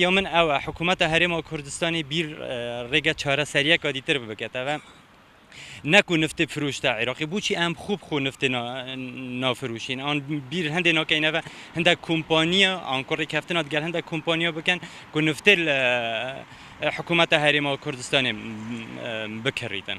یەمن ئەوە حکومەتە هەرێمەوە کوردستانی بیر ڕێگە چارەسەریە کادی تر بکەتەوە نەکو نفتی فروشتە عێراقی بچی ئەم خوب خو نفتی نافروشین ئەن بیر هەندێک ناکەینەوە هەندە کۆمپانیە ئەنکۆڕی کەفتنات گەل هەندە کۆمپانیا بکەن کو نفتێ حکوومەتە هەرێمەوە کوردستانی بکەڕیتن.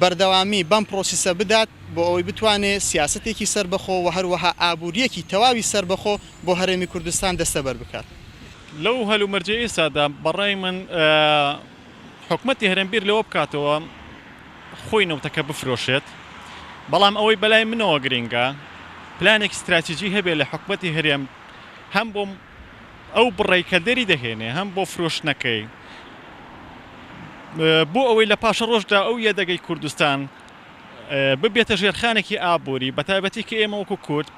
بەردەوامی بەم پرۆسیسە بدات بۆ ئەوەی بتوانێ سیاسەتێکی سەربەخۆ و هەروەها ئابوورییەکی تەواوی سەربەخۆ بۆ هەرێمی کوردستان دەستەبەر بکات. لەو هەلومەرجەی ئێستادا بە ڕای من حکومەتی هەرێم بیر لەوە بکاتەوە خۆی نەوتەکە بفرۆشێت، بەڵام ئەوەی بەلای منەوە گرینگە پلانێکی ستراتیجی هەبێ لە حکومەتی هەرێم هەم بۆ ئەو بڕەی کە دەری دەهێنێ هەم بۆ فرۆشتنەکەی بۆ ئەوەی لە پاشەڕۆژدا ئەو یەدەگەی کوردستان ببێتە ژێرخانێکی ئابووری بە تایبەتی کە ئێمە وەکو کورد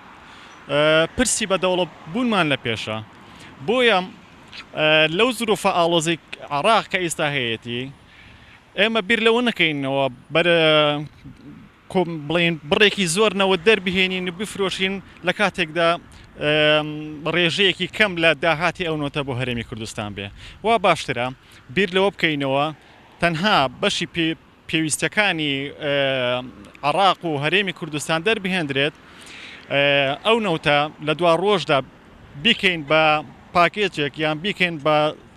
پرسی بە دەوڵە بوونمان لە پێشە بۆیە لەو زروفە ئاڵۆزی عراق کە ئیستا هەیەتی ئێمە بیر لەوە نەکەینەوە بەر بڵێین بڕێکی زۆر نەوت دەربهێنین و بفرۆشین لە کاتێکدا ڕێژەیەکی کەم لە داهاتی ئەو نەوتە بۆ هەرێمی کوردستان بێ وا باشترە بیر لەوە بکەینەوە تەنها بەشی پێ پێویستەکانی عراق و هەرێمی کوردستان دەربهێندرێت ئەو نەوتە لە دوا ڕۆژدا بیکەین بە پاکێجێک یان بیکەین بە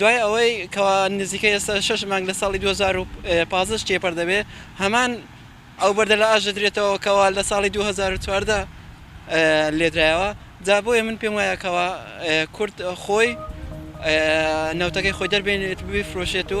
دوای ئەوەی کەوا نزیکەی ئێستا شەش مانگ لە ساڵی دوو هەزار و پازدە ش تێپەر دەبێت هەمان ئەو بەردە لە ئاش دەدرێتەوە کەوا لە ساڵی دوو هەزار و چواردە لێدرایەوە جا بۆیە من پێم وایە کەوا کورد خۆی نەوتەکەی خۆی دەربێنێت بیفرۆشێت و